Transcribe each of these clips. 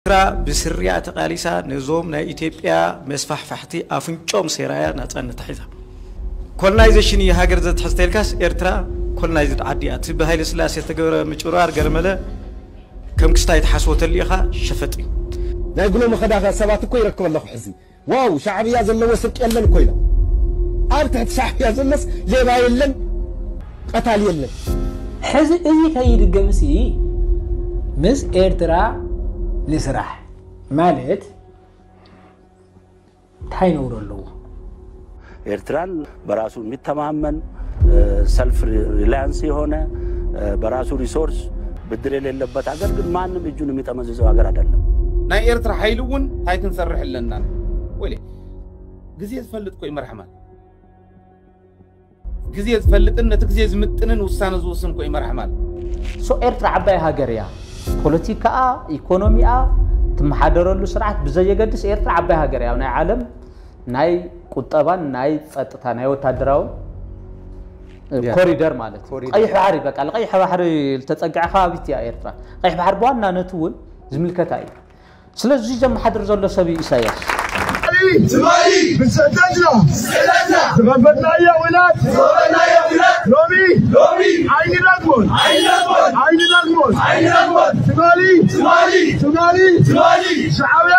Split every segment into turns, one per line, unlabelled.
ኤርትራ ብስሪኣ ተቃሊሳ ነዞም ናይ ኢትዮጵያ መስፋሕፋሕቲ ኣፍንጭኦም ሰይራ እያ ናጻነታ ሒዛ። ኮሎናይዘሽን እዩ ሃገር ዘትሕዝ ተልካስ ኤርትራ ኮሎናይዝድ ዓዲ እያ። እቲ ብሃይለስላሴ ዝተገበረ ምጭብርባር ገለመለ ከም ክስታይ ትሓስቦ ተሊእኻ ሸፈጥ እዩ። ናይ ብሎሚ
ከዳኸ ሰባት እኮ ይረክብ ኣለኹ ሕዚ ዋው ሻዕብያ ዘለዎ ስርቂ የለን እኮ ኢሎም ኣብ ትሕቲ ሻዕብያ ዘሎስ ሌባ የለን ቀታሊ የለን። ሕዚ
እዚ ከይድገምሲ ምስ ኤርትራ ንስራሕ ማለት እንታይ ነውሪ ኣለዎ?
ኤርትራን በራሱ የሚተማመን ሰልፍ ሪላያንስ የሆነ በራሱ ሪሶርስ ብድር የሌለበት ሀገር ግን ማንም እጁን የሚጠመዝዘው ሀገር አይደለም። ናይ ኤርትራ ሓይሊ
እውን እንታይ ክንሰርሕ ኣለና ወይ ግዜ ዝፈልጥ ኮይ መርሓማ ግዜ ዝፈልጥን ነቲ ግዜ ዝምጥንን ውሳነ ዝውስን ኮይ መርሓማ ሶ ኤርትራ
ዓባይ ሃገር እያ ፖለቲካኣ ኢኮኖሚኣ ትመሓደረሉ ስርዓት ብዘየገድስ ኤርትራ ዓባይ ሃገር እያ ናይ ዓለም ናይ ቁጠባን ናይ ጸጥታ ናይ ወታደራውን ኮሪደር ማለት እዩ። ቀይሕ ባሕሪ በቃ ንቀይሕ ባሕሪ ዝተጸግዐ ከባቢት እያ ኤርትራ። ቀይሕ ባሕሪ ብዋናነት እውን ዝምልከታ እዩ። ስለዚ ዘመሓድር ዘሎ ሰብ እዩ ኢሳያስ።
ትማሊ ብሰተትና ዝኸፈትናዮ ኲናት ሎሚ ኣይንደግሞን ኣይንደግሞን ትማሊ ትማሊ ሻዕብያ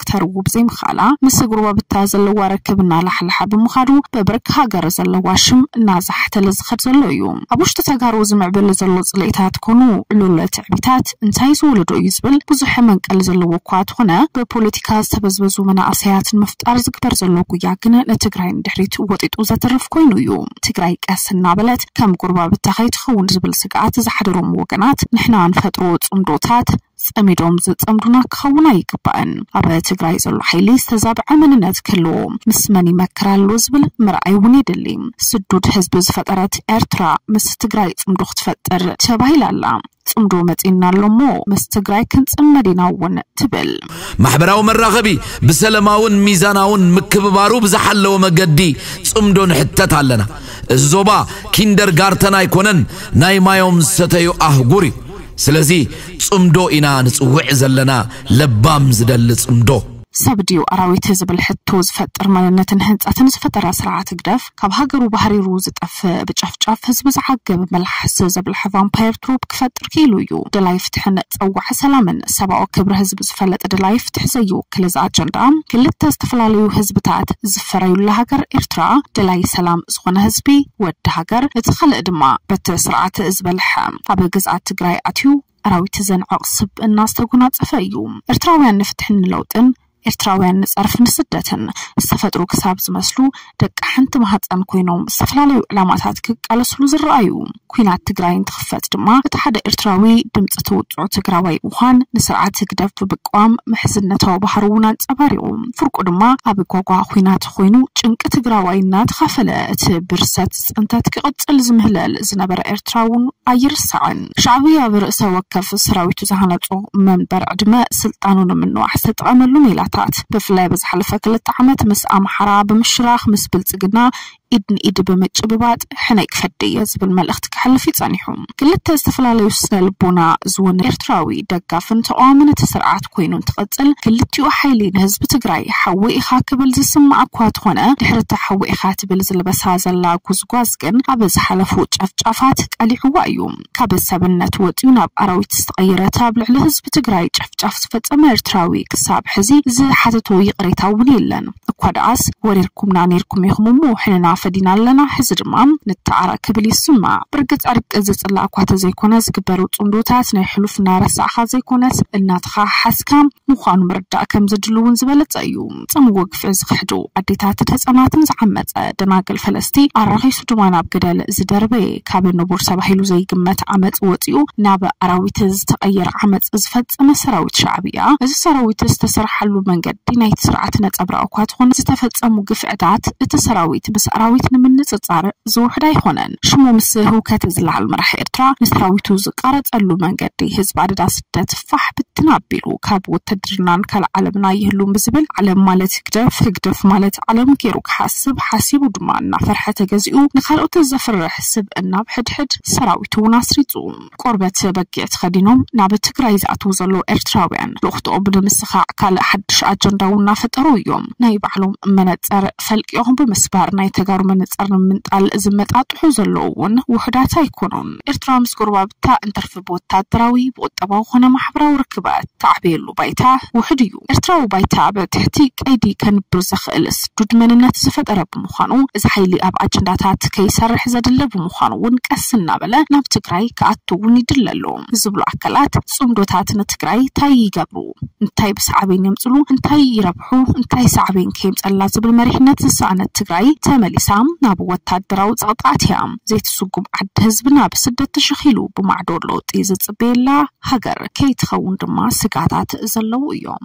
ክተርዉ ብዘይምኽኣላ ምስ ጎረባብታ ዘለዋ ርክብ እናላሕለሐ ብምኻዱ ብብርኪ ሃገር ዘለዋ ሽም እናዛሕተለ ዝኸድ ዘሎ እዩ። ኣብ ውሽጢ ተጋሩ ዝምዕብል ዘሎ ፅልኢታት ኮኑ ዕሉል ትዕቢታት እንታይ ዝወለዶ እዩ ዝብል ብዙሕ መንቀሊ ዘለዎ እኳ ተኾነ ብፖለቲካ ዝተበዝበዙ መናእሰያት ንምፍጣር ዝግበር ዘሎ ጉያ ግን ንትግራይ ንድሕሪት ወጢጡ ዘትርፍ ኮይኑ እዩ። ትግራይ ቀስ እናበለት ከም ጎረባብታ ከይትኸውን ዝብል ስግኣት ዝሓደሮም ወገናት ንሕና ንፈጥሮ ፅምዶታት ጸሚዶም ዘጸምዱና ክኸውን ኣይግባእን። ኣብ ትግራይ ዘሎ ሓይሊ ዝተዛብዐ መንነት ክህልዎ ምስ መን ይመክር ኣሎ ዝብል ምርኣይ እውን የድሊ። ስዱድ ህዝቢ ዝፈጠረት ኤርትራ ምስ ትግራይ ጽምዶ ክትፈጥር ተባሂላ ኣላ። ጽምዶ መጺኡና ኣሎ እሞ ምስ ትግራይ ክንጽመድ ኢና እውን ትብል። ማሕበራዊ መራኸቢ
ብሰለማውን ሚዛናውን ምክብባሩ ብዝሓለወ መገዲ ጽምዶ ንሕተት ኣለና። እዚ ዞባ ኪንደርጋርተን ኣይኮነን ናይ ማዮም ዝሰተዩ ኣህጉር እዩ። ስለዚ ጽምዶ ኢና ንጽውዕ ዘለና ለባም ዝደሊ ጽምዶ። ሰብ ድዩ ኣራዊት ዝብል ሕቶ ዝፈጥር መንነትን ህንጸትን ዝፈጠረ ስርዓት ህግደፍ፣ ካብ ሃገሩ ባህሪሩ ዝጠፍእ ብጨፍጫፍ ህዝቢ ዝዓግብ መልሓስ ዘብልሐ ቫምፓየር ትሮፕ ክፈጥር ክኢሉ እዩ። ደላይ ፍትሕን ጸዋዒ ሰላምን ሰብኣዊ ክብሪ ህዝቢ ዝፈልጥ ደላይ ፍትሒ ዘይውክል እዚ ኣጀንዳ ክልተ ዝተፈላለዩ ህዝብታት ዝፈረዩላ ሃገር ኤርትራ ደላይ ሰላም ዝኾነ ህዝቢ ወዲ ሃገር እቲ ካልእ ድማ በቲ ስርዓት ዝበልሐ ኣብ ግዝኣት ትግራይ ኣትዩ ኣራዊት ዘንዕቕ ስብእና ዝተጎናፀፈ እዩ። ኤርትራውያን ንፍትሕን ንለውጥን፣ ኤርትራውያን ንፀርፊ ንስደትን ዝተፈጥሩ ክሳብ ዝመስሉ ደቂ ሓንቲ ማህፀን ኮይኖም ዝተፈላለዩ ዕላማታት ክቃለስሉ ዝረኣዩ። ኲናት ትግራይ እንትኽፈት ድማ እቲ ሓደ ኤርትራዊ ድምፂ እቲ ውፁዕ ትግራዋይ ምዃን ንስርዓት ህግደፍ ብምቅዋም ምሕዝነታዊ ባህሩ እውን ኣንፀባሪቑ። ፍርቁ ድማ ኣብ ጓጓ ኲናት ኾይኑ ጭንቂ ትግራዋይ እናተኻፈለ እቲ ብርሰት ፅንተት ክቕፅል ዝምህለል ዝነበረ ኤርትራ እውን ኣይርሳዕን። ሻዕብያ ብርእሰ ወከፍ ሰራዊቱ ዝሃነፆ መንበር ዕድመ ስልጣኑ ንምንዋሕ ዝተጠቐመሉ ሜላታት ብፍላይ ኣብ ዝሓለፈ ክልተ ዓመት ምስ ኣምሓራ ብምሽራኽ ምስ ብልፅግና ኢድ ንኢድ ብምጭብባጥ ሕነይ ክፈዲ እየ ዝብል መልእኽቲ ከሕልፍ እዩ ፀኒሑ። ክልተ ዝተፈላለዩ ስነ ልቦና ዝወነነ ኤርትራዊ ደጋፍን ተቃዋምን እቲ ስርዓት ኮይኑ እንትቅጽል ክልቲኡ ሓይሊ ንህዝቢ ትግራይ ሓዊ ኢኻ ክብል ዝስማዕ እኳ ተኾነ ድሕሪ እታ ሓዊ ኢኻ ትብል ዝልበሳ ዘላ ጉዝጓዝ ግን ኣብ ዝሓለፉ ጨፍጫፋት ቀሊዕዋ እዩ ካብ ሰብነት ወጽዩ ናብ ኣራዊት ዝተቀየረ እቲ ኣብ ልዕሊ ህዝቢ ትግራይ ጨፍጫፍ ዝፈጸመ ኤርትራዊ ክሳብ ሕዚ ዝሓተቶ ይቅሬታ እውን የለን። እኳ ደኣስ ወሪርኩምና ኔርኩም ኢኹም እሞ ሕነና ፈዲና
ኣለና ሕዚ ድማ ንተዓረቕ ክብል ይስማዕ። ብርግጽ ዕርቂ ዝጽላእ እኳ ተዘይኮነ ዝግበሩ ጽምዶታት ናይ ሕሉፍ እናረሳዕካ ዘይኮነስ እናተኸሓሓስካ ምዃኑ ምርዳእ ከምዘድሊ እውን ዝበለጸ እዩ። ዝፈጸምዎ ግፍዒ ዝኽሕዱ ኣዴታትን ህጻናትን ዝዓመጸ ደናግል ፈለስቲ ኣራኺሱ ድማ ናብ ገደል ዝደርበየ ካብ ንቡር ተባሂሉ ዘይግመት ዓመጽ ወጺኡ ናብ ኣራዊት ዝተቐየረ ዓመጽ ዝፈጸመ ሰራዊት ሻዕብያ፣ እዚ ሰራዊት ዝተሰረሓሉ መንገዲ ናይቲ ስርዓት ነጸብራቕ እኳ ትኹን ዝተፈጸሙ ግፍዕታት እቲ ሰራዊት ምስ ኣራዊት ንምንጽጻር ዝውሕድ ኣይኾነን። ሽሙ ምስ ህውከት ዝለዓል መራሒ ኤርትራ ንሰራዊቱ ዝቃረጸሉ መንገዲ ህዝቢ ኣደዳ ስደት፣ ፋሕ ብትን ኣቢሉ ካብ ውትድርናን ካልእ ዓለምን ኣይህሉን ብዝብል ዓለም ማለት ህግደፍ፣ ህግደፍ ማለት ዓለም ገይሩ ክሓስብ ሓሲቡ ድማ እናፈርሐ ተገዚኡ ንካልኦት ዘፍርሕ ስብእና ኣብ ሕድሕድ ሰራዊቱ እውን ኣስሪጹ ቆርበት በጊዕ ተኸዲኖም ናብ ትግራይ ዝኣትዉ ዘለዉ ኤርትራውያን ልኡኽትኦም ንምስኻዕ ካልእ ሓድሽ ኣጀንዳ እውን እናፈጠሩ እዮም። ናይ ባዕሎም መነጸር ፈልቂቖም ብምስባር ናይ ተጋሩ መነጸር ንምምንጣል ዝመጣጥሑ ዘለዉ እውን ውሑዳት ኣይኮኑን። ኤርትራ ምስ ጎረባብታ እንተርፍ፣ ብወታደራዊ፣ ብቁጠባዊ ኮነ ማሕበራዊ ርክባት ትዓብየሉ ባይታ ውሑድ እዩ። ኤርትራዊ ባይታ ኣብ ትሕቲ ቀይዲ ከንብር ዘኽእል ስዱድ መንነት ዝፈጠረ ብምዃኑ፣ እዚ ሓይሊ ኣብ ኣጀንዳታት ከይሰርሕ ዘድሊ ብምዃኑ እውን ቀስ እናበለ ናብ ትግራይ ክኣቱ እውን ይድለ ኣሎ ዝብሉ ኣካላት፣ ፅምዶታት ንትግራይ ታይ ይገብሩ? እንታይ ብሳዕቤን የምፅሉ? እንታይ ይረብሑ? ሑ እንታይ ሳዕቤን ከየምፀላ ዝብል መሪሕነት ዝሰኣነት ትግራይ ተመሊሳ ናብ ወታደራዊ ፀቕጢ ኣትያ ዘይትስጉም ዓዲ ህዝብና ብስደት ተሸኺሉ ብማዕዶ ለውጢ ዝፅበየላ ሃገር ከይትኸውን ድማ ስግኣታት ዘለዉ እዮም።